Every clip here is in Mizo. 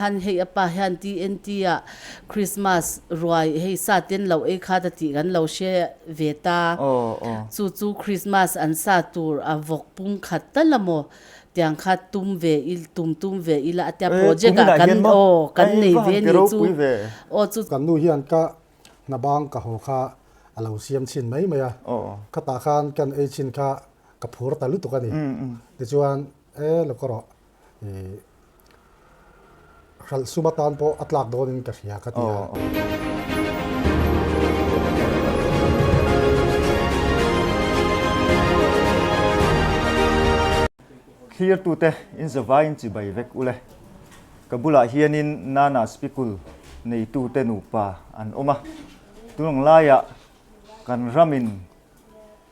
Khan hei a pa hian TNT a Christmas ruai hei sa ten loh ei khat a tih kan lo hre ve ta. Chu chu Christmas an sa tur a vawk pum khat ta la maw tiang kha tum ve i tum tum ve i la tia project ah kan aw kan nei ve ni chu aw chu Kan nu hian ka hna bang ka haw kha a lo siam chhin mai mai a, khatah khan kan ei chin kha ka phur ta lutuk a ni. Tichuan, E lawk ka rawh. Hralh sum atan pawh a tlak dawn in ka hria ka ti a. Thlir tu te in zavai in chibai vek u le. Ka bulah hian in Nana Spikul nei tu te nupa an awm a. Tunang lai ah kan ram in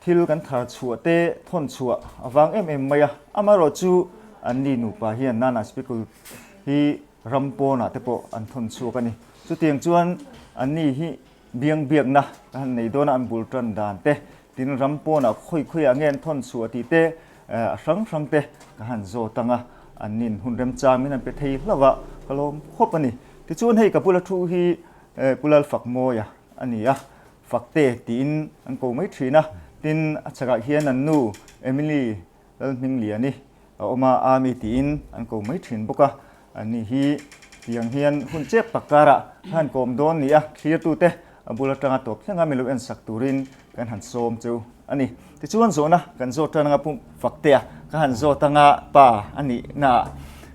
Thil kan thar chhuah te thawn chhuah a vang em em mai a, amaherawh chu an ni nupa hian nana Spikul hi ram pawnah te pawh an thawn chhuak a ni. Chutiang chuan an ni hi biang biakna ka han nei dawn a, an bul tan dan te, tin ram pawnah khawi khawiah nge an thawn chhuah tih te a hrang hrang te ka han zawt tang a, an nin hun remchang min han pe thei hlauh a, ka lawm khawp a ni. Tichuan hei ka bula thu hi Kulalfakmawia a ni a, Fakte tiin an ko mai thin a, tin a chhakah hian an nu Emily Lalhmingliani a awm a, Army tiin an ko mai thin bawk a, an ni hi tiang hian hun chep tak karah kha han kawm dawn nia, thlirtute a bul atanga tawp thleng a milo en sak turin kan han sawm chu a ni. Tichuan zawhna kan zawt tan anga Pum Faktea kha han zawt anga pa a nihnaah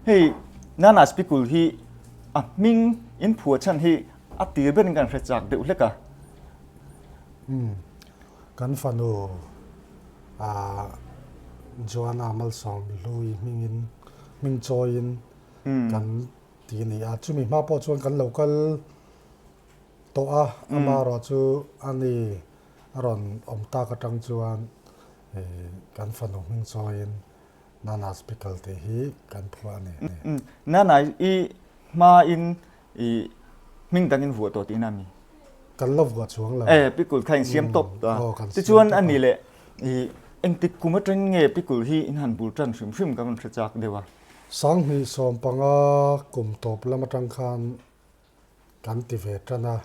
hei Nana Spikul hi a hming inphuah chhan hi a tir berin kan hre chak deuh hlek a. Umm, kan fanu a Joana Malsawm Hlui hmingin, hming chawiin kan ti a ni a. Chumi hma pawh chuan kan lo kal tawh a, ama ruah chu a ni a rawn awm tak atang chuan kan fanu hming chawiin Nana Spickle tih hi kan phua a ni. Nana i hmain I hming dangin vuah tawh tihna a mi. Kan la vuah chuang lo. Eh, Pikul kha in siam tawp ta. Aw, kan siam tawp a. Tichuan a ni le, i engtik kum atang nge Pikul hi in han bul tan hrim hrim ka rawn hre chak deuh a. Sang hnih sawm panga kum tawp lam atang khan kan ti ve tan a.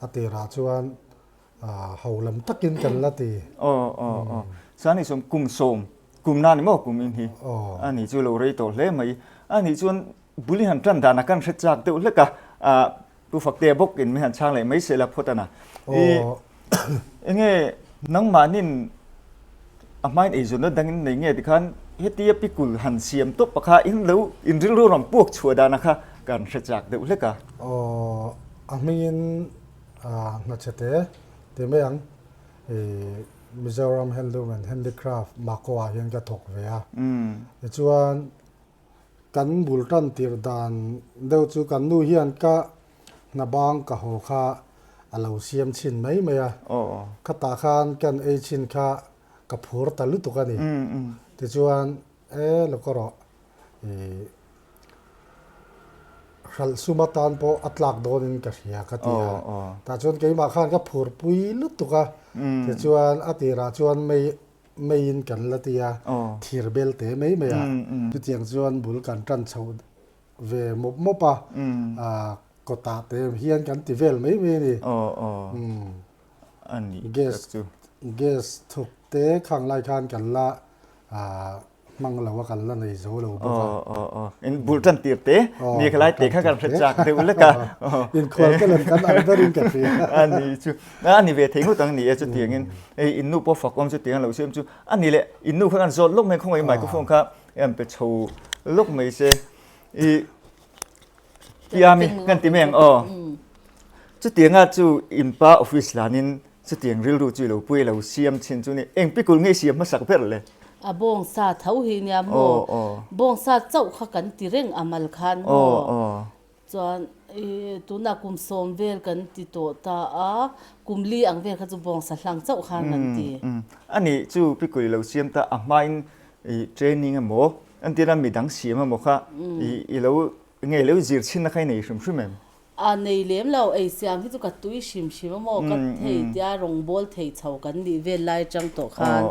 A tirah chuan. Aw ho lam takin kan la ti. Aw aw aw chuan ni sawm kum sawm kum na ni maw kum in hi a ni chu lo rei tawh hle mai a ni chuan buli han tan dan a kan hre chak deuh hlek a ah pu fakte bawk in min han chhang leh mai se la phawt ana i enge nangmahnin a hma in eizawnna dang in nei nge ti khan heti a pi kul han siam tawp a kha in lo in rilru ram puak chhuah dan a kha kan hre chak deuh hlek a. Aw a hming in. Aaa hnatheh te ti mai ang i Mizoram handloom and handicraft Mako ah hian ka thawk ve a tichuan kan bul tan tir dan deuh chu kan nu hian ka hna bang ka haw kha a lo siam chhin mai mai a khatah khan kan ei chhin kha ka phur ta lutuk a ni tichuan E Lokara, i hralh sum atan pawh a tlak dawnin ka hria, ka ti a. Tah chuan keimah khan ka phur pui lutuk a. Tichuan a tirah chuan mei, meiin kan la ti a, thir belte mai mai a. Chutiang chuan bul kan tan chho ve mawp mawp a, kawtah te hian kan ti vel mai mai a ni. a ni gas chu gas thuk te khang lai khan kan la hmang lo a kan la nei zo lo bawk a aw aw aw in bul tan tir te ni kha lai te kha kan hre chak deuh lek a in khual te lem kan ang ber in ka hria a ni chu a ni ve thei nghut ang ni e chu tiang in hei in nu pawh fak awm chu tiang lo chu em chu a ni le in nu kha kan zawt lawk mai khawngaih microphone kha em pe chho lawk mai se i Piam i kan ti meng aw. Chutianga chu inpa office lanin chutiang rilru chu i lo pui i lo siam chhin chu ni. Eng pikul nge i siam hmasak ber le? A bawng sa tho hi nia maw? Bawng sa chauh kha kan ti reng a mal khan maw? Chuan i tuna kum sawm vel kan ti tawh ta a, kum li ang vel kha chu bawng sa hlang chauh khan kan ti. Ani chu pikul i lo siam ta, a hmain training emaw An tihna mi dang si emaw kha i lo ngei lo zir chhin na kha i nei hrim hrim em? A nei lem lo, ei siam hi chu ka tui hrim hrim emaw ka thei tia rawngbâwl thei chho kan nih vel lai atang tawh khan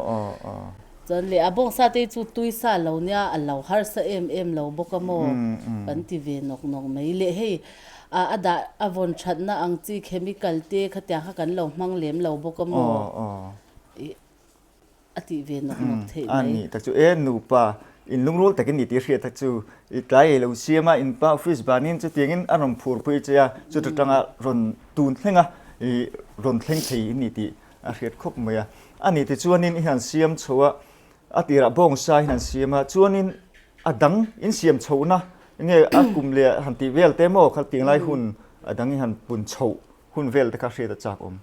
chuan leh a bawngsa te hi chu tui sa lo nia a lo harsa em em lo bawk amaw kan ti ve nawk nawk mai, leh hei a dah a vawn thatna ang chi chemical te khatiang kha kan lo hmang lem lo bawk amaw. a tih ve nawk nawk theih mai. An nih ta chu, E nupa, in lungrual takin i ti hriat ta chu, i tlai ei lo siam a, in pa office banin chutiangin a rawn phur pui che a, chuta tanga rawn tun thleng a, i rawn thleng thei in ni tih a hriat khawp mai a. A nih ti chuanin in han siam chho a, a tirah bawng sa in han siam a, chuanin a dang in siam chhohna, enge a kum leh han tih vel te maw kha tih ngai hun a dang in han pun chhoh. Hun vel te kha hriat a chak awm.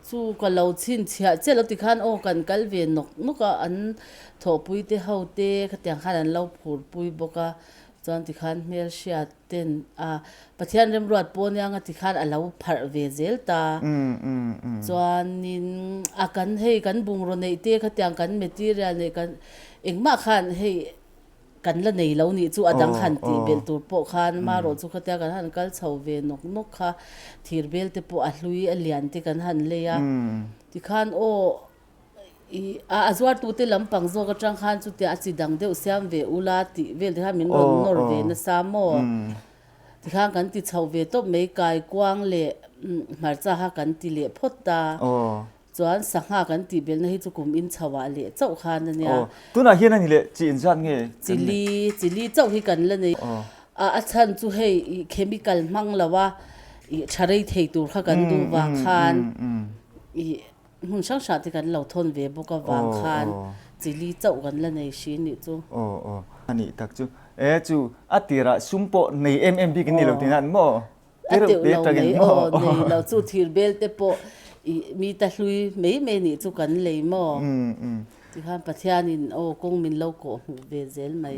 Chu ka lo chhin chhiah chiah lo ti khan aw kan kal ve nawk nawk a, an thawhpui te ho te khatiang khan an lo phur pui bawk a, chuan ti khan hmelhria ten a Pathian remruat pawh nia nga ti khan a lo pharh ve zel ta. Chuanin a kan hei kan bungraw neih te khatiang kan material neih kan engmah khan hei Kan la nei lo nih chu a dang han tih belh tur pawh khan marawh chu khatia kan han kal chho ve nawk nawk kha. Thir bel te pawh a hlui a lian te kan han lei a. Tikhan aw a zuartu te lam pang zawk atang khan chutia a chi dang deuh siam ve ula tih vel te khan min rawn nawr ve nasa maw tikhan kan ti chho ve tawp mai. Kaikuang leh Hmarcha kha kan ti leh phawt ta. Chuan sangha kan tih belna hi chu kum in chho ah leh chauh khan a nia. Aw, tunah hian a ni leh, chi inziak nge kan nei? Chili, chili chauh hi kan la nei. Aw. A a chhan chu hei ih chemical hmang lo a ih tha rei thei tur kha kan duh vang khan ih hmun hrang hrang te kan lo thawn ve bawk avang khan chili chauh kan la nei hri anih chu. Aw aw, anih tak chu. E chu a tirah sum pawh nei em em bik in ni lo tiin a ni maw? A teuh lo mai aw nei lo chu thir bel te pawh i mi ta hlui mai mai nih chu kan lei maw ti khan Pathian in aw kawng min lo kawh hmuh ve zel mai.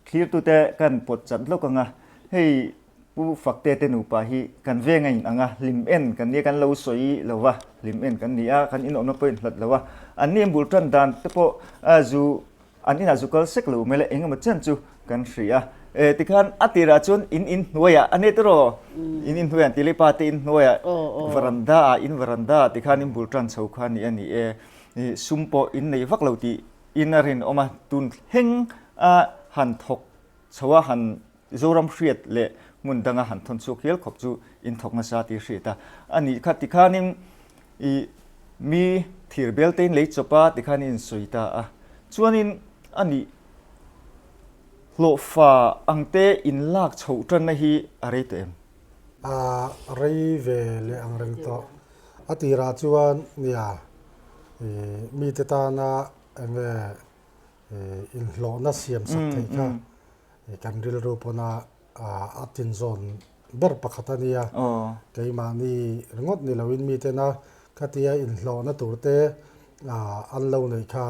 Thlir tu te kan pawt chat hlawk anga hei Pu Fakte te nupa hi kan veng a in ang a hlim en kan nia kan lo sawi lo a hlim en kan ni a kan inawmna pawhin hlat lo a an ni a bul tan dan te pawh a zu An inah chu kal sek lo mele engemaw chian chu kan hria e tikhan a tirah chuan in in hnuaia a net iraw in in hnuaia an tih leh pa te in hnuaia varanda ah in varanda ah tikhan in bul tan chho kha nih a ni e sum pawh in nei vak lo tih in a rinawm a tun thleng a han thawk chhoa han Zoram hriat leh hmun danga han thawn chhuak hial khawp chu inthawk nasa tih a hriat a, a nih kha tikhanin i mi thir beltein lei chawp a tikhan in sawi ta a, chuanin a nih hlawhfa ang te in lak chho tan na hi a rei tawh em? A rei ve leh ang reng tawh, a tirah chuan nia i mite tana enge i inhlawhna siam sak theih kha Kan rilru pawna a tin zawn ber pakhat a nia, keimahni ringawt ni loin mitena khatia inhlawhna turte an lo neih kha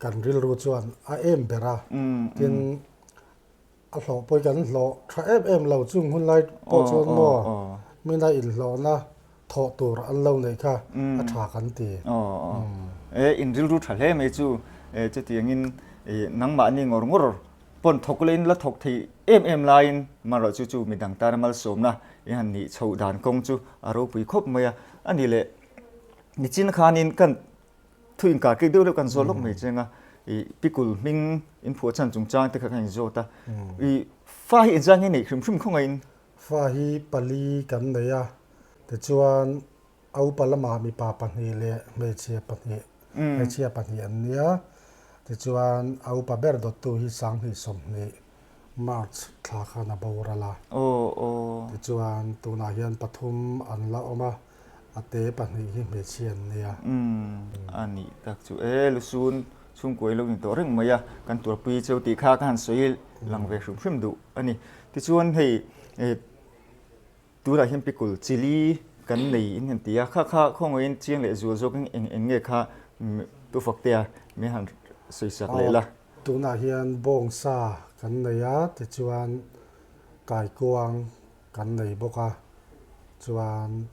kan rilru chuan a em ber a, tin a hlawh pawh hi kan hlawh tha em em lo, chung hunlai pawh chuan maw mina inhlawhna thawh tur an lo neih kha a tha kan ti. Aw aw e in rilru tha hle mai chu e chuti angin e nangmah ni ngawr ngawr pawn thawk leh in la thawk thei em em laiin manroh chu chu midang tana malsawmna e han nih chhoh dan kawng chu a ropui khawp mai a, a ni leh nichin khanin kan thu inkar tih deuh deuh kan zawt lawk mai che anga e pikul hming in phuah chhan chungchang te kha ka in zawt a e fa hi engzang hi a neih hrim hrim khawngaihin Fa hi pali kan nei a, tichuan a upa lamah mipa pahnih leh hmeichhia pahnih, hmeichhia pahnih an nia. Tichuan a upa ber dawttu hi sanghnih sawmhnih, March, thla khan a boral a. Tichuan tunah hian pathum an la awm a. a te pahnih hi hmeichhia an nia. Umm, a nih tak chu e, Lusun chhungkua i lo ni tawh reng mai a, kan tuarpui chu tih kha ka han sawi lang ve hrim hrim duh a ni. Tichuan hei e tunah hian pickle, chilli, kan nei in han ti a, kha kha khawngaihin chiang leh zual zawk in eng eng nge kha tu fak te a, mi a han sawi chak leh la. Tunah hian bawngsa kan nei a, tichuan kaikuang, kan nei bawk a, chuan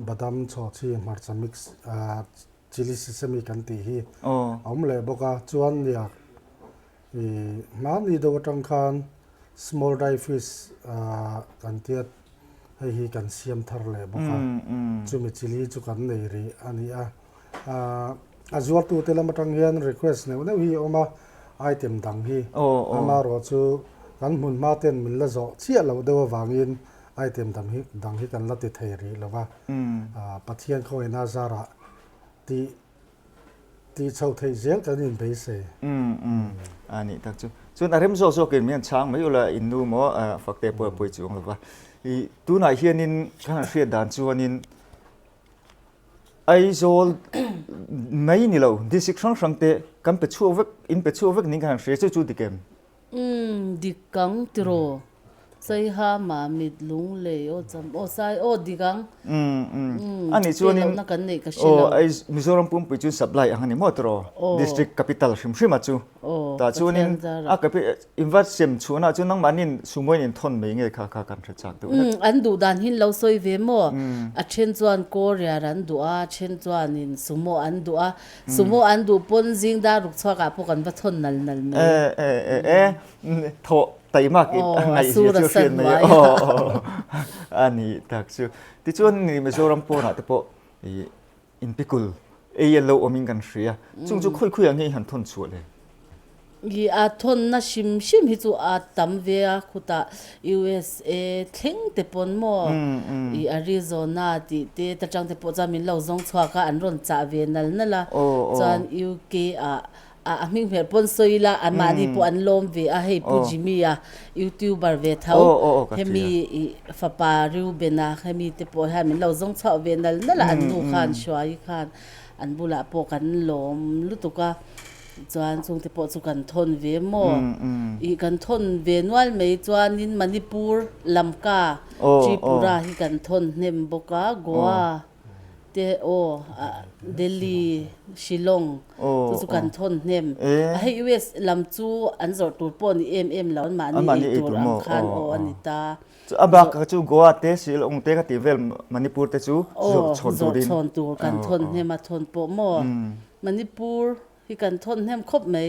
badam chawhchi hmarcha mix ah chilli sesame kan tih hi a awm leh bawk a, chuan nia mahni deuh atang khan small dry fish ah kan tia hei hi kan siam thar leh bawk a, chumi chilli chu kan nei rih a ni a. a zuartute lam atang hian request neuh neuh hi a awm a, item dang hi. Amarawh chu kan hmun hma ten min la zawh chiah loh deuh avangin item dam hi dang hi kan la ti thei rih lo va. Pathian khawina zarah ti ti chho theih zel kan in beisei. A nih tak chu. Chuan a rem zawk zawkin min han chhang mai ula in nu maw fakte pawh a pawi chuang lo va. I tunah hianin kan han hriat dan chuanin. Aizawl mai ni lo, district hrang hrang te kan pe chhuak vek, in pe chhuak vek niin kan han hria che chu dik em? Umm, dik ang tiraw? Saihama mit lung lei aw cham aw sai aw dik ang. Umm, umm, pek lohna kan neih ka hre lo. Aw, Mizoram pumpui chu supply ang a ni maw tiraw? Aw. District capital hrim hrima chu. Aw, Pathian zara. Tah chuan in, a capital, Invarsem chhuahna chu nangmahni'n sumoin in thawn mai nge kha kha kan hre chak deuh hlek. An duh dan hi'n lo sawi ve maw? A then chuan Korea an duh a, a then chuanin sumo an duh a. Sumo an duh pawn zing dar ruk chhuakah pawh kan va thawn nal nal mai. E-e-e-e, thawh tai mak i a ngaih zia chu a hriat mai a. Aw, a sa hnuaia. A ni tak chu. Tichuan Mizoram pawnah te pawh ih. In pi kul ei a lo awmin kan hria. Chung chu khawi khawi ah nge i han thawn chhuah le? I a thawn na hrim hrim hi chu a tam ve a, khutah usa thleng te pawn maw, i Arizona tih te ta tang te pawh chuan min lo zawng chhuak a, an rawn chah ve nal nal a. Chuan UK ah A a hming hmel pawn sawi ila an mahni pawh an lawm ve a, hei Pu Jimmy a, youtuber ve tho, hemi fapa Reuben a, hemi te pawh hian min lo zawng chhuah ve nal nal a, an nu khan Shuai khan an bulah pawh kan lawm lutuk a, chuan chung te pawh chu kan thawn ve maw, ih kan thawn ve nual mai chuanin Manipur lamka Tripura hi kan thawn hnem bawk a, Goa. te aw Delhi, Shillong te chu kan thawn hnem a hei US lam chu an zawrh tur pawh ni em em lo an mah ni ei tur ang khan aw a ni ta. Chu a bak ah chu Goa te Shillong te ka ti vel Manipur te chu zawrh chhawn tur in. Zawrh chhawn tur kan thawn hnem a thawn pawh maw Manipur hi kan thawn hnem khawp mai.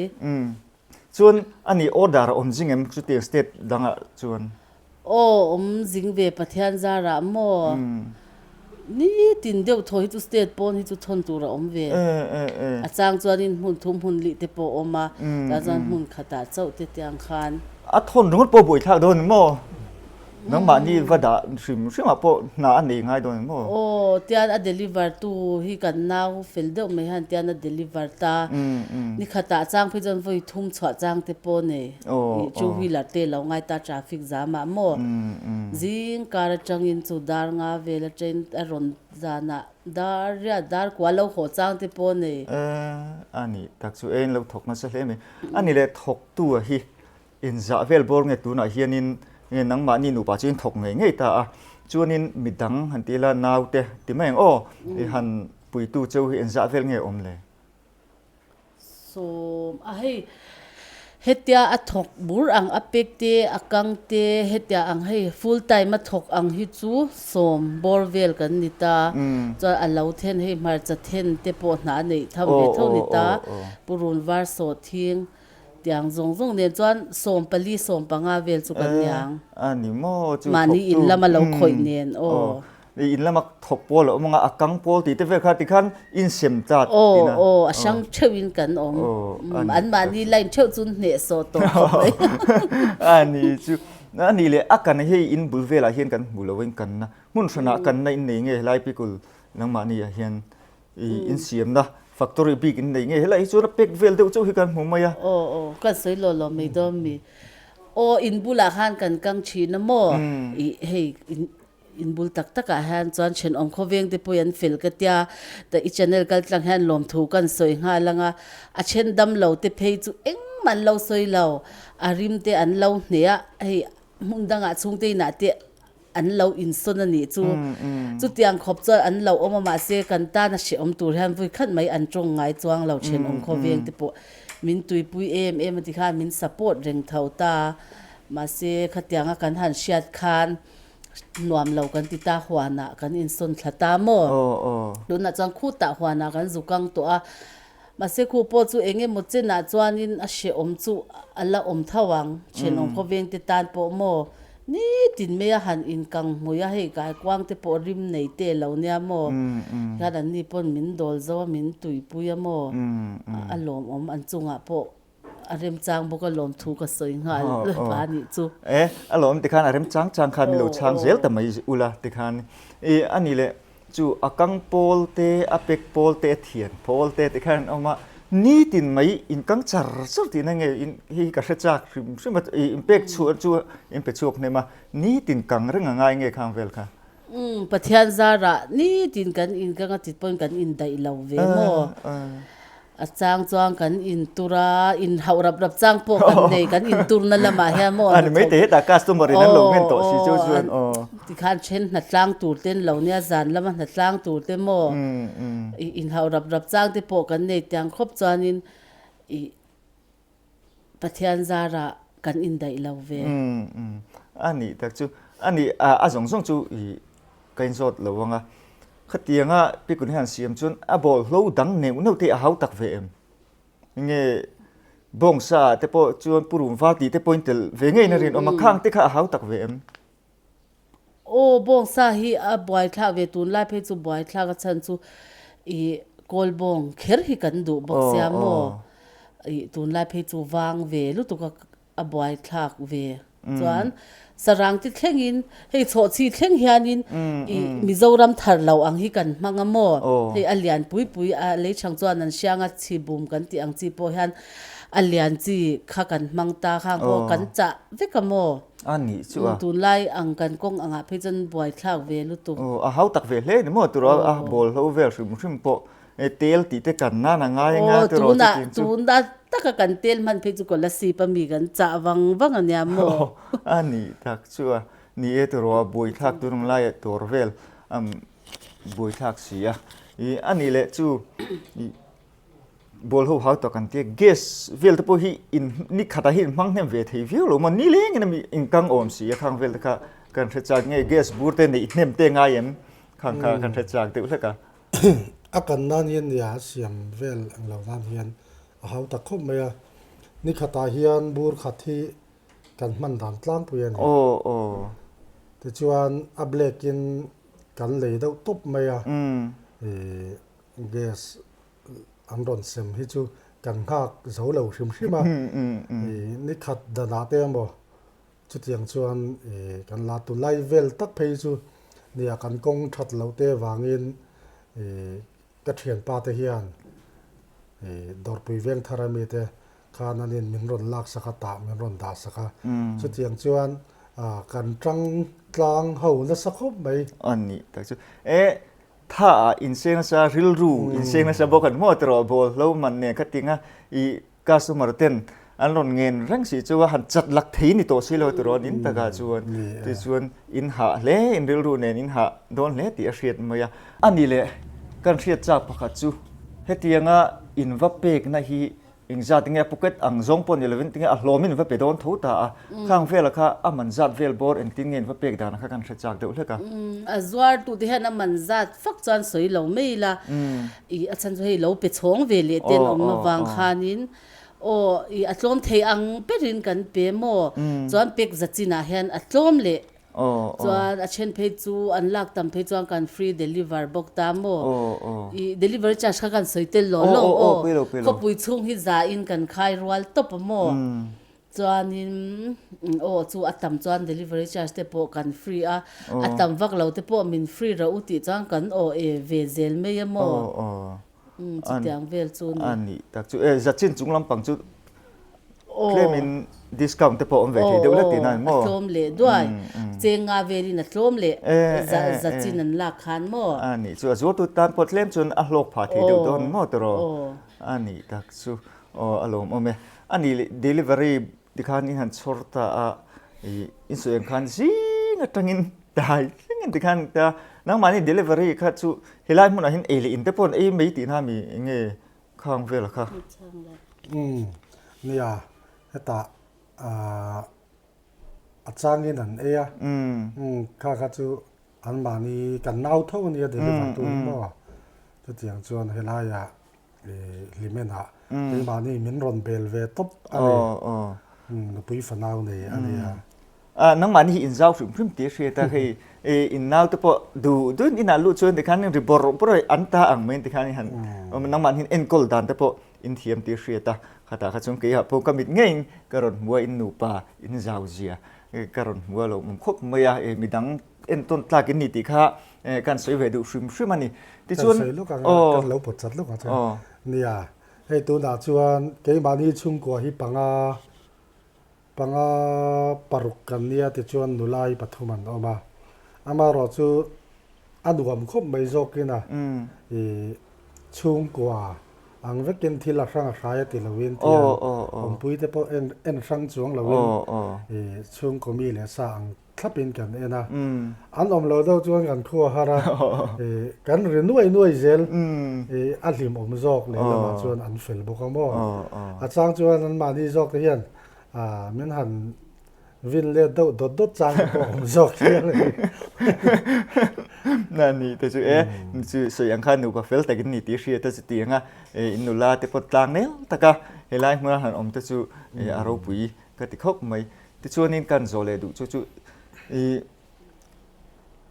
Chuan a nih order a awm zing em chuti state dangah chuan? Aw awm zing ve Pathian zarah maw? Nitin deuh thaw hi chu state pawn hi chu thawn tur a awm ve. A chang chuan in hmun thum hmun lih te pawh a awm a, tah chuan hmun khatah chauh te tiang khan. A thawn ringawt pawh a buaithlak dawn em maw? Nangmah ni va dah hrim hrimah pawh hna a nei ngai dawn em aw. Aw, tian a deliver tu hi kan nau fel deuh mai han tian a deliver ta. Ni khatah chang phei chuan vawi thum chhuah chang te pawh nei. Ih, two wheeler te lo ngai ta traffic jam ah maw. Zing kar atangin chu dar nga vel a train a rawn zan ah dar riat dar kua lo haw chang te pawh nei. Aah, a nih tak chu eng lo thawk nasa hle mai. A ni leh thawk tu a hi. Inzah vel bawr ngek tunah hianin nge nangmahni nupa chu in thawk ngei ngei ta a, chuanin midang han ti ila naute ti mai ang aw, i han puitu cheu hi inzah vel nge awm le? Sawm a hei hetia a thawk bur ang a pek te a kang te hetia ang hei full time a thawk ang hi chu sawm bawr vel kan ni ta, chuan a lo then hei hmarcha then te pawh hnah a neih tham ve tho ni ta, Purun var sawt thing. Tiang zawng zawng nen chuan sawm pali sawm panga vel chu kan nia ang. Eh a ni maw chu thawktu. Mahni in lam a lo khawih nen aw. Aw i in lama thawk pawl a awm anga a kang pawl tihte vel kha tikhan in sem tlat tiin a. Aw aw a hrang theuh in kan awm. Aw a ni. An mahni line theuh chu in hneh sawh tawh khawp mai. A ni chu. A nih leh a kan hei in bul velah hian kan hmu lo in kanna hmun hranah kanna in nei nge helai pikul nangmahni ah hian i insiamna factory bik in nei nge helai hi chuan a pack vel deuh chauh hi kan hmuh mai a. Aw aw kan sawi lo lo mai dawn mi aw in bulah khan kan kang thin a maw i hei in in bul tak tak ah hian chuan thenawm khawveng te pawh i an fel ka tia i channel kal tlang hian lawm thu kan sawi nghal anga a then dam lo te phei chu engmah an lo sawi lo a rim te an lo hneh a hei hmun dang ah chhungte inah te an lo insawn a nih chu. Chutiang khawp chuan an lo awm a mah se kan tana hrehawm tur hian vui khat mai an tawng ngai chuang lo ṭhen awm khaw veng te pawh min tuipui em em a ti khan min support reng tho ta a, mah se khatiang a kan han hriat khan nuam lo kan ti ta huan ah kan insawn thla ta maw? Tunah chuan khut ah huan ah kan zu kang tawh a, Mahse khu pawh chu eng emaw chenah chuanin a hrehawm chu a la awm tho ang, thenawm khawvengte tan pawh maw nitin mai a han inkang hmui a, hei kaikuangte pawh rim nei teh lo nia maw, hian anni pawn min dawl zo a, min tuipui a maw, a lawmawm an chungah pawh A remchang bawk a lawm thu ka sawi nghal va nih chu. E, a lawm tikhan a rem chang chang khan milo chhang zel ta mai ula tikhan i a ni leh chu a kang pawl te a pek pawl te a thian pawl te tikhan an awm a nitin mai in kang char char tih na nge in hei hi ka hre chak hrim hrim a i in pek chhuah chu in pe chhuak hnem a nitin kang reng a ngai nge khang vel kha. Umm Pathian zarah nitin kan in kang a tit pawhin kan indaih lo ve maw. A chang chuan kan in tur a, in hauh rap rap chang pawh kan nei, kan in turna lamah hian maw a ni thawk. Maite hetah customer in an lo nghen tawh si chu chuan aw. Tikhan then hna tlang tur ten lo nia, zan lama hna tlang tur te maw in hauh rap rap chang te pawh kan nei tiang khawp chuanin Pathian zarah kan indaih lo ve. Umm, a nih tak chu, a nih a, a zawng zawng chu i ka inzawt lo ang a. Khatianga Pikun hian siam chuan, A bawl hlo dang neuh neuh te a hau tak ve em? Enge bawngsa te pawh chuan purumvar tih te pawhin tel ve ngeiin a rinawm a, khang te kha a hau tak ve em? Aw bawng sa hi a buai thlak ve tun lai phei chu buai thlak a chhan chu i kawl bawng kher hi kan duh bawk sia maw i tun lai phei chu vang ve lutuk a a buai thlak ve chuan sarangte thlengin hei chhawhchhi thleng hianin i mizoram thar loh ang hi kan hmang a maw hei a lian pui pui a lei chhang chuan an hriang a chhi bum kan tih ang chi pawh hian a lian chi kha kan hmang ta khang khaw kan chah vek a maw. A nih chu a. Tunlai ang kan kawng angah phei chuan buai thlak ve lutuk. Aw, a hau tak ve hle ni maw? Turaw a bawl hlo vel hrim hrim pawh hei tel tih te kan nan a ngai a ngai a turaw chu tin chu. Aw, tunah tun tak a kan tel hman phei chu kawla sip a mi kan chah vang vang a nia maw? Aw, a nih tak chu a. Ni e turaw a buai thlak tunung laia tur vel a buai thlak si a. I a nih leh chu. Ball ho hau tak an tia, gas vel te pawh hi in ni khatah hi in hmang hnem ve thei viau lo maw? Ni leng in a mi in kang awm si a, khang vel te kha kan hre chak nge gas bur te neih hnem te ngai em? Khang kha kan hre chak deuh hlek a. A kan nan hian nia a siam vel ang lo nan hian a hau tak khawp mai a, ni khatah hian bur khat hi kan hman dan tlangpui a ni. Aw aw. Tichuan a black in kan lei deuh tawp mai a. Umm. Ihh. Gas an rawn sem hi chu kan nghak zo lo hrim hrim a, i ni khat danah te emaw chutiang chuan i kan la tu lai vel tak phei chu nia kan kawng that loh te avangin i ka thianpa te hian i Dawrpui Vengthar a mi te khan an in min rawn lak sak a tah min rawn dah sak a, chutiang chuan kan tang tlang ho nasa khawp mai. A nih tak chu e. Tha a inseng nasa, rilru inseng nasa bawk an hmuh aterh a, bawl hlo man nen kha tinga i customer ten an rawn ngen reng si chu a han chat lak thei ni tawh silo tiraw ni in takah chuan tih chuan in hah hle in rilru nen in hah dawn hle tih a hriat mai a. Ani le kan hriat chak pakhat chu hetianga in va pekna hi Engzat tinge a pocket ang zawng pawh a ni lovin tinge a hlawm in va pe dawn tho ta a, khang vela kha a man zat vel bawr engtin nge in va pek dana kha kan hre chak deuh hlek a. A zuartute hian a man zat fak chuan sawi lo mai ila, ih a chhan chu hei lo pe chhawng ve leh te an awm avang khanin aw ih a tlawm thei ang berin kan pe maw chuan pek za chinah hian a tlawm leh Chuan a then phei chu an lak tam phei chuan kan free deliver bawk ta maw? I delivery charge kha kan sawi tel loh lo aw. Khawpui chhung hi za in kan khai rual tawp maw? Chuanin aw chu a tam chuan delivery charge te pawh kan free a, a tam vak lo te pawh min free rah u tih chuan kan aw e ve zel mai a maw? Umm, chutiang vel chu a ni. A ni tak chu. Eh, Zachin chung lampang chu claim in discount te pawh awm ve thei deuh hlat tina maw? Aw, a tlawm leh duai. Cheng nga velin a tlawm leh Zachin an lak khan maw? A ni chu. A zuartu tan pawh tlem chuan a hlawk phah thei deuh dawn maw tawrh aw? A ni tak chu. Aw, a lawm awm e. A ni, delivery Tikhan in han chhawr ta a, in sawi ang khan zing atangin dai thleng in tikhan an tia, nangmahni delivery kha chu helai hmunah hin ei leh in te pawh ei mai tihna a mi enge khang vela kha. Umm nia hetah a changin an ei a, kha kha chu anmahni kan nau tho a nia deliver tu hi maw, chutiang chuan helaia Hlimena keimahni min rawn bel ve tawp a ni. Nupui fanau nei a ni a. Nangmahni hi inzau hrim hrim tih a hriat a, hei innaute pawh duh duh in inah luh chuan tikhan ri bawrh bawrh a an ta ang mai ang tikhan in han awm a. Nangmahni hian enkawl dan te pawh in thiam tih a hriat a. Khatah kha chuan keihah pawh ka mit ngeiin ka rawn hmu a, in nupa, in zauzia ka rawn hmu a, lo awm khawp mai a, midang en tawn tlak in ni tih kha kan sawi ve duh hrim hrim a ni. Tichuan. Kan sawi lawk ang a, kan lo pawt chat lawk ang chuan nia, hei tunah chuan keimahni chhungkua hi panga, panga paruk kan nia tichuan nulai pathum an awm a, amarawh chu a nuam khawp mai zawk in a chhungkua ang vek in thil a hrang a hrai a ti lo in tiang awmpuite pawh en hrang chuang lo in chhungkaw mi leh sa ang thlapin kan en a, an awm lo deuh chuan kan thu a har a, kan ri nuai nuai zel, a hlim awm zawk leh lamah chuan an fel bawk a maw, a chang chuan an mahni zawk te hian min han vin let deuh dawt dawt chang te pawh a awm zawk tih a ni. Na ni te chu e, mi chu sawi ang kha nupa fel takin ni tih hriat a chuti anga, i nula te pawh tlang nel taka helai hmuna han awm te chu a ropui Ka ti khawp mai. Tichuanin ka han zawh leh duh chu chu i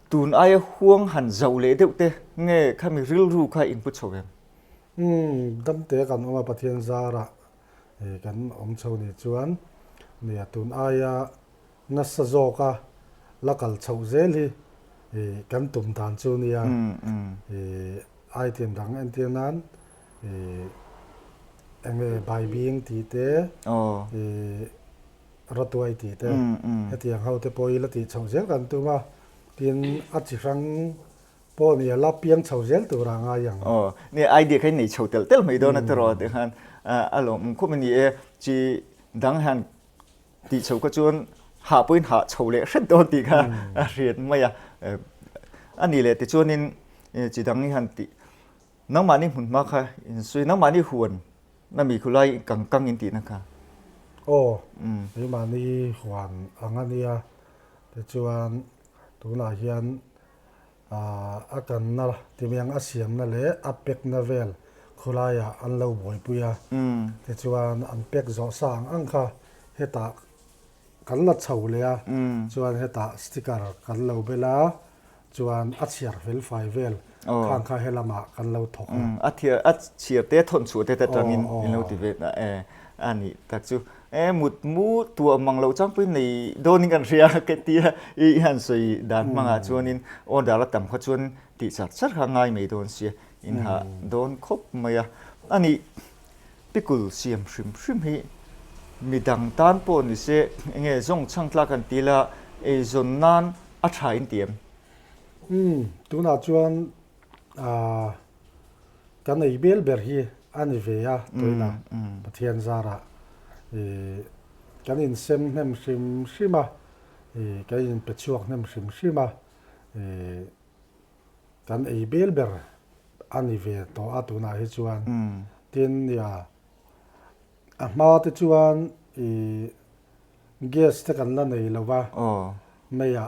tun aia huang han zauh leh deuh te nge khami rilru kha in pu chho em? Umm, dam te kan awm a Pathian zarah i kan awm chho nih chuan mi a tun aia nasa zawka la kal chhoh zel hi i kan tum dan chu nia i ai thin rang entir nan Ih, enge Baibing tih te, ih, Ratuai tih te, hetiang ho te pawh i la tih chhoh zel kan tum a, tin a chi hrang pawh ni a la piang chhoh zel tur a ngai ang. Aw, ni idea kha i nei chhoh tel tel mai dawn a tiraw tih khan a lawm khawp a ni e. Chi dang hian tih chhoh kha chuan hah pawhin hah chhoh leh hret dawn tih kha a hriat mai a. A ni leh tichuanin chi dang hian tih. Nangmahni hmunhma kha in sawi, nangmahni huan na mi khulai i kang kang in tihna kha. Aw, keimahni huan ang a nia, ti chuan tunah hian a kanna timiang a siamna leh a pekna vel khulaiah an lo buaipui a, ti chuan an pek zawh sa ang ang kha hetah kan la chho leh a, chuan hetah sticker kan lo bel a, Chuan a chhiar felfai vel khan kha he lamah kan lo thawk a. A thiar, a chhiar te thawn chhuah te atangin in lo ti ve ta e. A ni tak chu. E mut mu tuah mang loh chang pawhin nei dawnin kan hria a ka ti a. I han sawi dan hmangah chuanin order la tam kha chuan tih chak char kha a ngai mai dawn sia. In hah dawn khawp mai a. A ni Pikul siam hrim hrim hi mi dang tan pawh ni se, eng nge zawng chhang tlak an ti la, ei zawn nan a tha in ti em? Umm, tunah chuan aah kan ei bel ber hi a ni ve a tuin a, Pathian zara i kan in sem hnem hrim hrim a, i kan in pe chhuak hnem hrim hrim a, i kan ei bel ber a ni ve tawh a tunah hi chuan. Tin nia, a hma te chuan i gas te kan la nei lova, Maya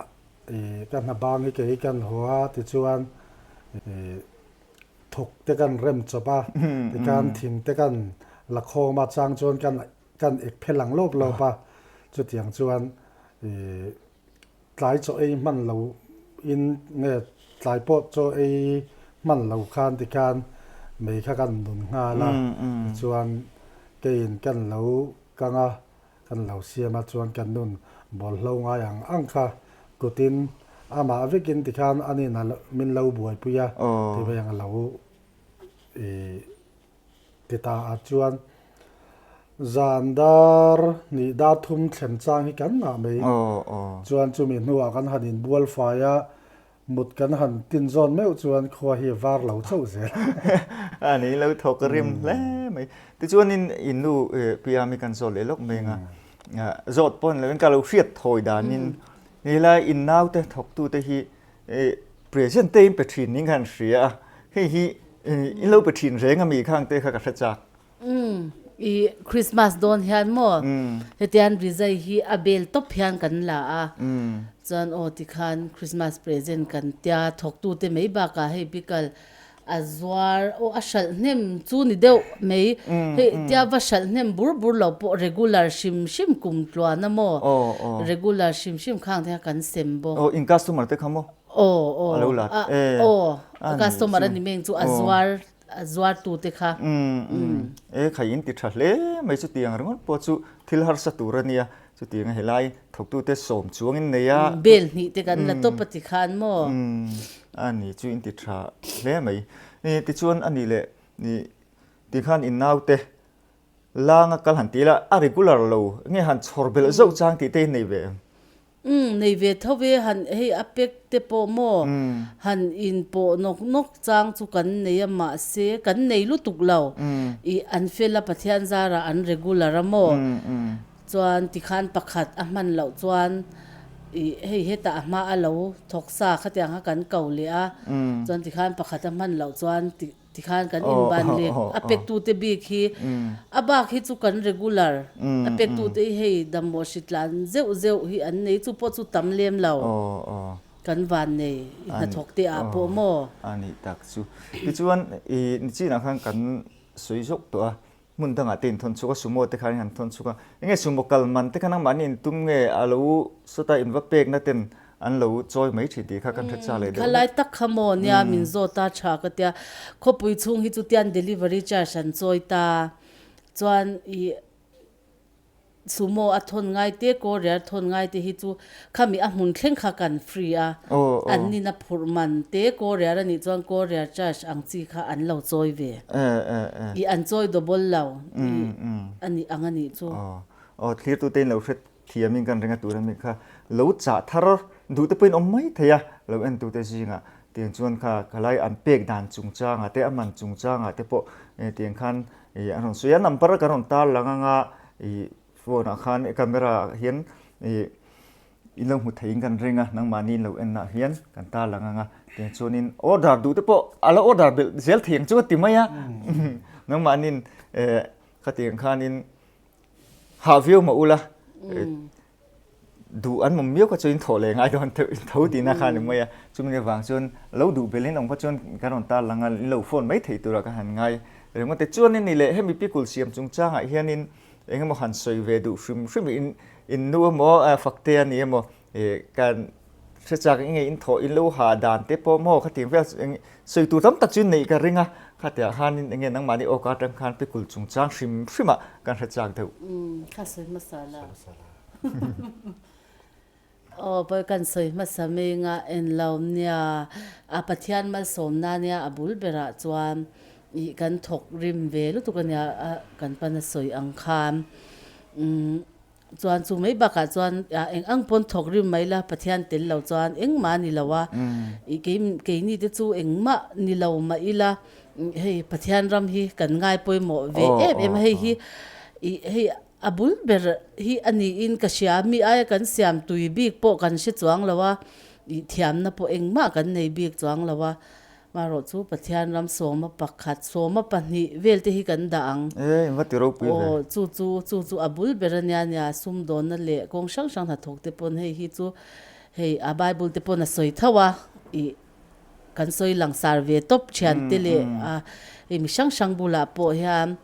i ka hna bang hi kei kan haw a tichuan i thuk te kan rem chawp a, tichuan thing te kan la khawm a chang chuan kan kan ek phelh ang lawp lawp a, chutiang chuan i. Tlai chaw ei hman lo in nge tlai pawt chaw ei hman lo khan ti khan mei kha kan nun nghal a, tichuan keiin kan lo kang a, kan lo siam a, chuan kan nun bawlhlo ngai ang ang kha, kutin amah vekin ti khan anin a min lo buaipui a, tiveng a lo i. ti ta ah chuan zan dar nih dar thum thlem chang hi kan ngah mai chuan chumi hnuah kan han in bual fai a, mut kan han tin zawn meuh chuan khua hi a var lo chauh zel. A ni lo thawk ka rim hle mai. Tichuan in in nu Piami kan zawt leh lawk mai ang a, zawt pawh ni lo in ka lo hriat thawi dan in, he lai in nau te thawk tu te hi Present te in pe thin niin kha an hria a, hei hi in lo pe thin reng a mi kha ang te kha ka hre chak. I Christmas dawn hian maw, hetian rizai hi a bel tawp hian kan la a, chuan aw tikhan Christmas present kan tia thawk tute mai bakah hei pickle A zuar, aw a hralh hnem chu ni deuh mai, hei tia va hralh hnem bur bur lo pawh regular hrim hrim kum tluan a maw, regular hrim hrim kha ang te kha kan sem bawk. Aw in customer te kha maw? Aw aw a lo la e, aw a customer a ni meng chu a zuar, a zuar tu te kha. E khai in ti tha hle mai chu ti ang ringawt pawh chu thil harsa tur a nia, Chutiang a helai thawktute sawm chuangin nei a. Bel hnih te kan la tawp a ti khan maw? A ni chu in ti tha hle mai. Tichuan a nih leh ti khan in naute langa kal han ti ila a regular lo nge han chhawr belh zauh chang tih te in nei ve em? Umm nei ve tho e, han hei a pack te pawh maw han inpawh nawk nawk chang chu kan nei a mahse kan nei lutuk lo i an fill a Pathian zarah an regular a maw? Chuan tikhan pakhat a hman loh chuan ih hei hetah a hma a lo thawk sa khatiang kha kan ko leh a, chuan tikhan pakhat a hman loh chuan tikhan kan inban leh a pek tu te bik hi a bak hi chu kan regular a pek tu te i hei damawh hri tlan zeuh zeuh hi an nei chu pawh chu tam lem lo kan van nei i hnathawk te ah pawh maw. Anih tak chu tichuan ih nichin ah khan kan sawi zawk tawh a Hmun dangah te inthawn chhuka sumo te khanin han thawn chhuka, enge sumo kal man te kha nangmahni intum nge alo sawt a inva pekna ten an lo chawi mai thin tih kha kan hretsa leh deuh hlek. Thalai tak kha maw nia min zawt a tha ka tia, khawpui chhung hi chutian delivery charge an chawi ta chuan i. sumo a thawn ngai te courier thawn ngai te hi chu khami a hmun thleng kha kan free a, an nin a phurh man te courier a nih chuan courier charge ang chi kha an lo chawi ve i an chawi dobol lo i a nih ang a nih chu. Aw thlir tute in lo hre thiam in kan ringa tur a nih kha lo chah thar duh te pawh in awm mai thei a lo en tu te zing ah tiang chuan kha ka lai an pek dan chung chang ah te a man chung chang ah te pawh tiang khan i a rawn sawi a number a kan rawn tar lang ang a i phone ah khan i camera ah hian i i lo hmu theiin kan ring a nangmahni lo en ah hian kan tar lang ang a tin chuanin order duh te pawh a lo order belh zel thei ang chu a ti mai a nangmahnin e khatiang khanin hah viau mah ula duh an awm miau kha chu in thawh leh ngai dawn an theih tho tih na kha ani mai a chumi avang chuan lo duh belin awm kha chuan ka rawn tar langa in lo phone mai thei tur ah ka han ngai ringawt e chuan in nileh hemi pickle siam chung chang ah hian in eng emaw han sawi ve duh hrim hrim in in nu emaw fakte a ni emaw Ih kan hriatchak in nge in thawh in lo ha dan te pawh maw khati vel eng sawi tur tam tak chu in neih ka ring a khatiah khan in enge nangmah ni awk atang khan pikul chung chang hrim hrim ah kan hriatchak deuh. Umm kha sawi hmasa la aw pawi kan sawi hmasa meng a en lo nia a Pathian malsawm na nia a bul ber ah chuan ih kan thawk rim ve lutuk ania a kan pan a sawi ang khan umm. Chuan chu mai bakah chuan eng ang pawn thawk rim mai la, Pathian tel lo chuan engmah ni lo a, i kei keini te chu engmah ni lo mah ila hei Pathian ram hi kan ngai pawimawh ve em em a, hei hi i hei a bul ber hi a niin ka hria, mi aia kan siam tui bik pawh kan hre chuang lo a, i thiamna pawh engmah kan nei bik chuang lo a, Marawh chu Pathian ram sawma pakhat, sawma pahnih velte hi kan dah ang. Ee, engka ti ropui hle? Aw, chu chu, chu chu a bul ber a nia nia, sum dawnna leh kawng hrang hrang hnathawk te pawn hei hi chu hei a Bible te pawn a sawi tho a, ih kan sawi langsar ve tawp thian te leh a hei mi hrang hrang bulah pawh hian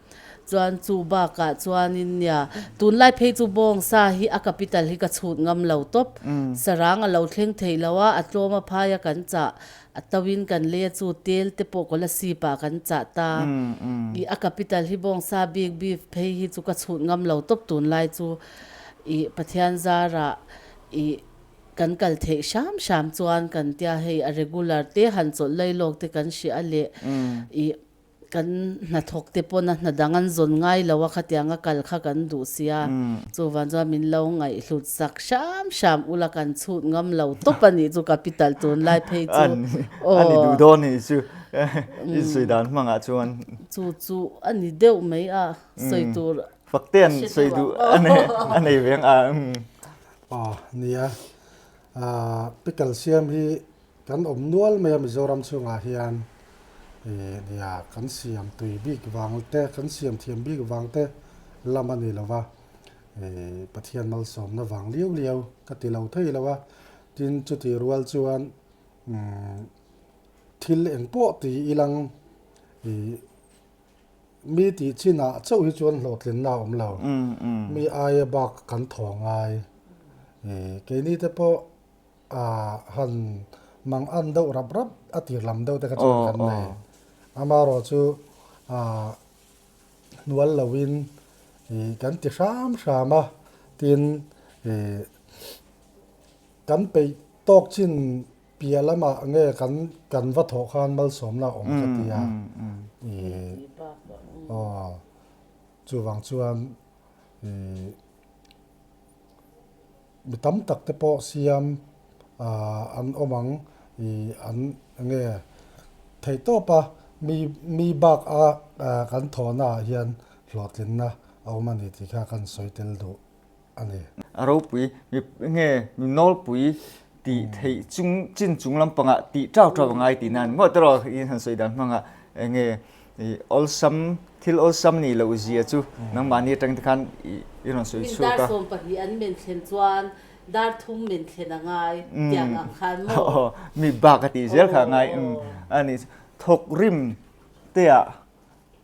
chuan chu bakah chuanin nia tunlai phei chu bawng sa hi a capital hi ka chhut ngam lo tawp, sarang a lo thleng theih lo a, a tlawma phaia kan chah A to in kan lei a chu tel te pawh kawla sip ah kan chah ta i a capital hi bawng sa bik bik phei hi chu ka chhut ngam lo tawp tun lai chu i Pathian zar ah i kan kal theih hram hram chuan kan tia hei a regular te han chawlh lei lawk te kan hria a leh i Kan hnathawkte pawn a hnadang an zawn ngai lo a, khatiang a kal kha kan duh sia. Chuvang chuan min lo ngaihhlut sak hram hram ula kan chhut ngam lo tawp a nih chu ka pi talh tûn lai phei chu. Aw. A ni duh dawn ni chu. I sawi dan hmangah chuan. Chu chu a ni deuh mai a, sawi tur. Fakte an sawi duh a nei veng a. Aw nia, pickle siam hi. Kan awm nual mai a Mizoram chhungah hian i nia kan siam tui bik vang te kan siam thiam bik vang te lam a ni lo va i Pathian malsawmna vang liau liau ka ti lo thei lo a, tin chuti rual chuan umm thil eng pawh ti i lang i mi tih chin ah chauh hi chuan hlawhtlinna a awm lo, mi aia bak kan thawh ngai i keini te pawh Ah han mang an deuh rap rap a tir lam deuh te kha chuan kan nei. Ama raw chu ah hnual lo in i kan ti hram hram a, tin i kan peih tawk chin piah lamah nge kan kan va thawh khan malsawmna a awm ka ti a. I aw chuvang chuan i. mi tam tak te pawh siam ah an awm ang i an nge theih tawp a, mi mi bak a kan thaw na ah hian hlawhtlin na a awm a ni tih kha kan sawi tel duh a ni. A ropui mi nge mi nawlpui tih theih chung chin chung lampanga tih tau tau a ngai tih nan ngawt tawh rawh i han sawi dan hmanga enge i awlsam thil awlsam nih loh zia chu nangmahni atangte khan i rawn sawi chhuak a. Min dar sawm pahnih an men thlen chuan dar thum men thlen a ngai tiang ang khan maw? Aw mi bak a tih zel kha a ngai a nih chu. Thawk rim teah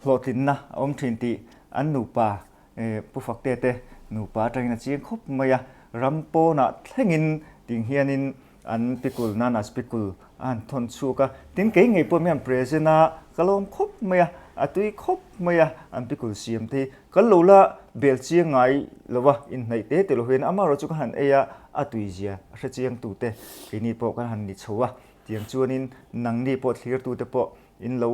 hlawhtlinna a awm thin tih an nupa E, Pu Fakte te nupa atangin a chiang khawp mai a, ram pawnah thlengin tih hianin an pikul nana spikul a han thawn chhuak a, tin kei ngei pawhin an present a, ka lawm khawp mai a, a tui khawp mai a, an pikul siam te hi kal lo la, bel chiang ngai lo a, inhnaih te teh lo hian amaherawh chu ka han ei a, a tui zia a hre chiang tu te keini pawh ka han ni chho a, tiang chuanin nangni pawh thlir tute pawh in lo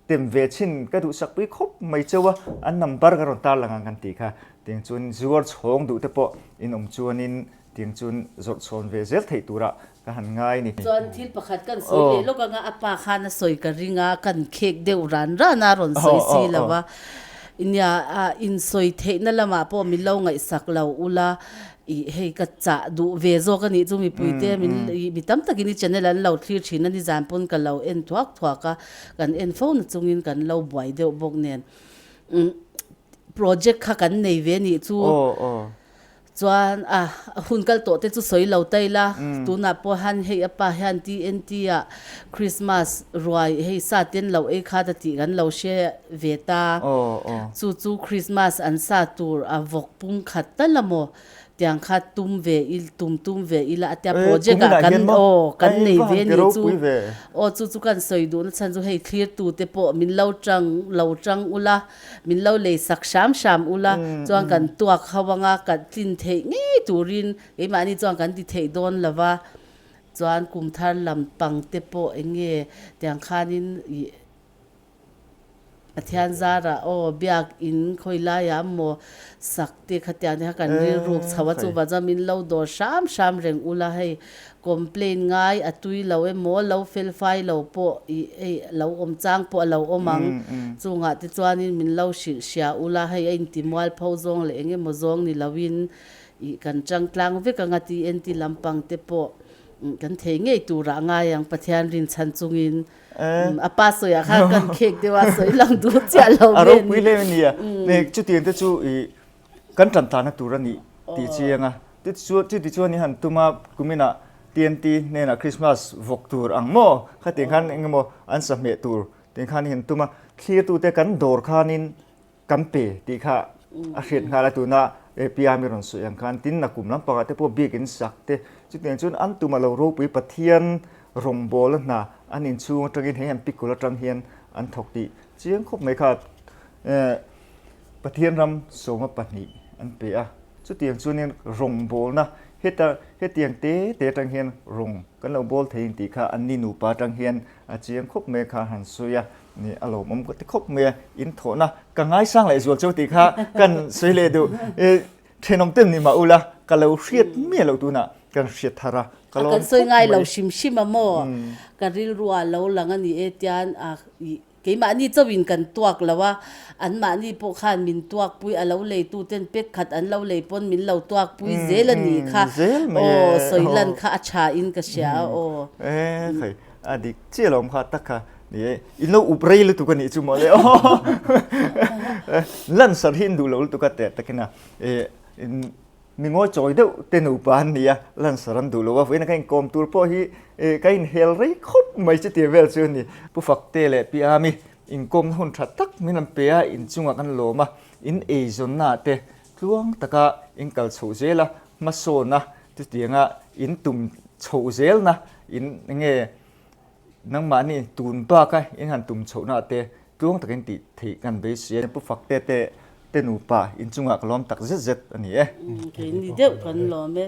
Tem ve chin ka duhsak pui khawp mai chau a, an number ka rawn tar lang ang kan tih kha. Tiang chuan zuar chhawng duh te pawh in awm chuanin tiang chuan zawrh chhawn ve zel theih tura ka han ngai ni. Chuan thil pakhat kan sawi leh lawk anga a pa khan a sawi ka ring a, kan khek deuh ran ran a rawn sawi si lo va. Nia a in sawi theihna lamah pawh min lo ngaihsak lo ula i hei ka chah duh ve zawk a nih chu mipuite min mi tam takin i channel an lo thlir thin a nizan pawn ka lo en thuak thuak a. Kan en fo na chungin kan lo buai deuh bawk nen project kha kan nei ve nih chu chuan a hun kal tawh te chu sawi lo ta ila, tunah pawh han hei a pa hian TNT a Christmas ruai hei sa ten loh ei kha ta tih kan lo hre ve ta, chu chu Christmas an sa tur a vawk pum khat ta la maw? Tiang kha tum ve il tum tum ve ila a tia project ah kan aw kan nei ve ni chu aw chu chu kan sawi duhna chhan chu hei thlir tu te pawh min lo tang lo tang ula min lo lei sak hram hram ula chuan kan tuak ho anga kan tlin theih ngei turin keimahni chuan kan ti theih dawn lova chuan kum thar lam pang te pawh eng nge tiang khanin ih Pathian zara aw biak in khawilaiah amaw sak te kha tiang te kha kan rilruk chho a chu vazam in lo dawr hram hram reng ula hei complain ngai a tui lo emaw lo fel fai lo pawh i ei lo awm chang pawh a lo awm ang chungah te chuan in min lo hrilh hria ula hei a inti mual pho zawng leh eng emaw zawng ni lo in i kan tangtlang vek ang a ti enti lampang te pawh kan thei ngei turah ngai ang Pathian rinchhan chung in. A pa sawiah kha kan khek deuh a, sawi lang duh chiah lo nge ni? A ropui hlem a ni a, heng chuti ang te chu i kan tantanna tur a nih tih chi anga, chuti chuan i han tuma kumina TNT hnenah Krismas vawk tur ang maw khatiang khan engemaw an sahmeh tur tiang khan i han tuma, thlir tute kan dawr khanin Kan pe tih kha a hriat nghal a, tuna API-am i rawn sawi ang khan tin a kum lampangah te pawh biak in sak te. Chutiang chuan an tuma lo ropui Pathian rawngbawla hna an inchhung atangin hei han pikul atang hian an thawk tih chiang khawp mai kha Pathian ram sawma pahnih an pe a. Chutiang chuanin rawngbawlna heta hetiang te te atang hian rawn kan lo bawl thei ang tih kha an ni nupa atang hian a chiang khawp mai kha han sawi a. Nih a lawmawm ka ti khawp mai a, in thawhna ka ngaisang leh zual chauh tih kha kan sawi leh duh. Thenawm te ni mah ula, ka lo hriat miah loh tunah kan hriat thar a, ka lawm khawp mai. A kan sawi ngai lo hrim hrim a maw? Ka rilrua a lo lang a ni e tian keimahni chauhin kan tuak loh a, anmahni pawh khan min tuakpui, a lo lei tu ten pek khat an lo lei pawn min lo tuakpui zel a nih kha. Aw, sawilan kha a thain ka hria a aw. Kha a dik chiah loh ang kha tak kha In lo up rei lutuk a nih chu mawle aw lansar hi in duh loh lutuk a teh tak in a mi ngawi chawi deuh te nupa an ni a lansar an duh loh a vawiin a ka in kawm tur pawh hi ka in hel rei khawp mai chu tih vel chu a ni. Pu Fakte leh Pi Ami in kawmna hun tha tak min rawn pe a in chungah kan lawm a in eizawnna te tluang taka in kal chhoh zel a hmasawn a chutianga in tum chhoh zel na in enge Nangmahni tun baka in han tum chhoh na te tluang takin ti theih kan vei si a. Pu Fakte te te nupa in chunga ka lawm tak zet zet a ni e. Keini deuh kan lawm e.